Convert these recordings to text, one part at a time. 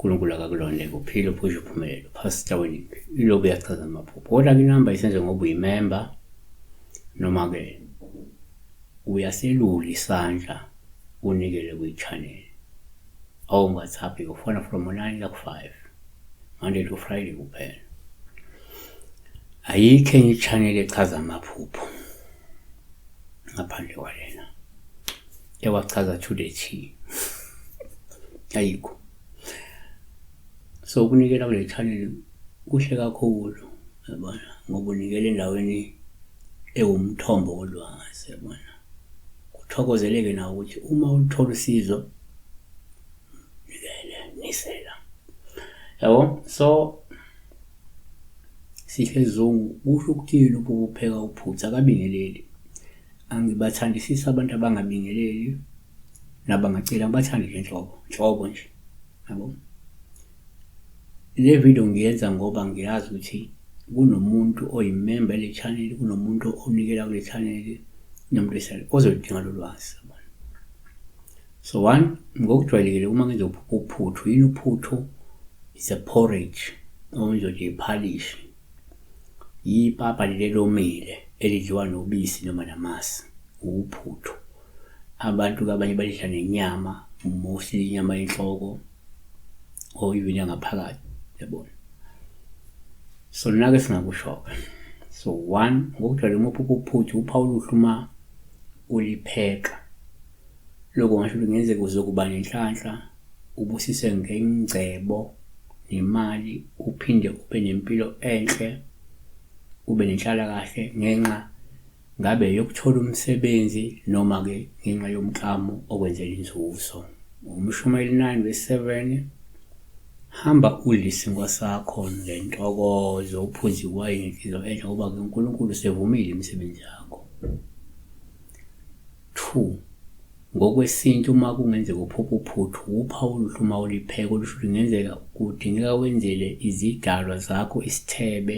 uNkulunkulu akakulonde kuphile uphushe uphumelele uphasita wini iloku uyachaza amaphupho kodwa ke inamba isenze ngoba uyimemba noma-ke uyaselula isandla unikele kwi-channel Awu ngathapi ufona from 9 la ku 5. Monday to Friday kuphela. Ayikho enye channel echaza amaphupho. Ngaphandle kwalena. Ewachaza to the T. Ayikho. So ukunikela kule channel kuhle kakhulu. Yabona ngokunikela endaweni ewumthombo wolwazi yabona. Kuthokozeleke nawe ukuthi uma ulithola usizo nikele nisela. Yabo so Sihle Zungu kusho ukuthini ukupheka uphutha akabingeleli. Angibathandisisi abantu abangabingeleli nabangaceli angibathandi nje nhlobo nhlobo nje. Yabo. Le video ngiyenza ngoba ngiyazi ukuthi kunomuntu oyimemba yale channel, kunomuntu onikela kule channel nomuntu esale ozoludinga lo lwazi. So one, ngokujwayelekile uma ngenza uphuthu, yini uphuthu? It's a porridge noma ngizothi iphalishi. Yipapa leli elomile elidliwa nobisi noma namasi, uphuthu. Abantu-ke abanye balidla nenyama, mostly inyama yenhloko, or even yangaphakathi yabona so nake singakushoka so one ngokujwayele uma uphupha uphuthu uphawu oluhle uma ulipheka lokho ngasho ukuthi ngenzeka uzokuba nenhlanhla ubusise ngengcebo nemali uphinde ube nempilo enhle ube nenhlalakahle ngenxa Ngabe yokuthola umsebenzi noma-ke ngenxa yomklamo okwenzela inzuzo. Umshumayeli 9 vesi 7 Hamba udle isinkwa sakho ngentokozo, uphuze iwayini ngenhliziyo enhle ngoba-ke uNkulunkulu usevumile imisebenzi yakho. 2. Ngokwesintu uma kungenzeka uphupha uphuthu, wuphawu oluhle uma ulipheka olusho ukuthi kungenzeka kudingeka wenzele izidalwa zakho isithebe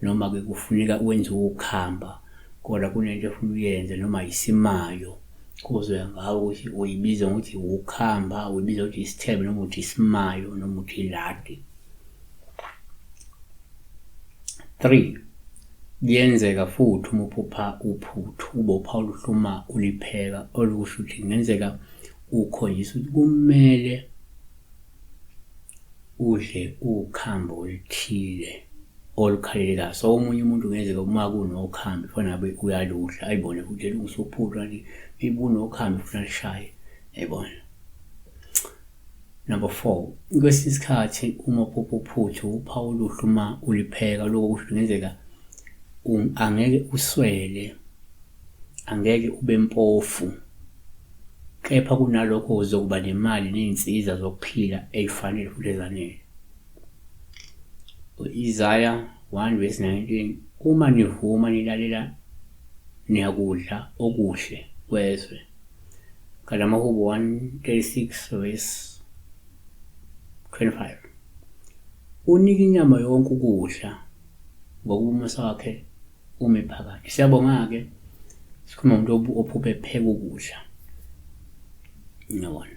noma-ke kufuneka wenze ukhamba kodwa kunento efuna uyenze noma yisimayo kuzoya ngawo ukuthi uyibiza ngokuthi wukhamba uyibiza ukuthi isithebe noma ukuthi isimayo noma ukuthi iladi 3 Kuyenzeka futhi uma uphupha uphuthu ubopha oluhluma ulipheka olukusho ukuthi kungenzeka ukhoyisa ukuthi kumele udle ukhambo oluthile olukhalelekayo so omunye umuntu kungenzeka uma kunokhambi fana ngabe uyaludla ayibone futhi elungisophuthu kanti ibunokhambi futhi alishaye yayibona Number 4. Kwesinye isikhathi uma uphupha uphuthu uphawu oluhle uma ulipheka lokho kusho kungenzeka um, angeke uswele angeke ube mpofu kepha kunalokho uzokuba nemali ney'nsiza zokuphila ey'fanele futhi ezanele u-isaya 1 verse 19 uma nivuma nilalela niyakudla okuhle kwezwe Galamahubo 136 verse 25 Unika inyama yonke ukudla ngokuba umusa wakhe ume phakade. Siyabonga-ke sikhuluma umuntu ophuphe pheka ukudla. Ngiyabona.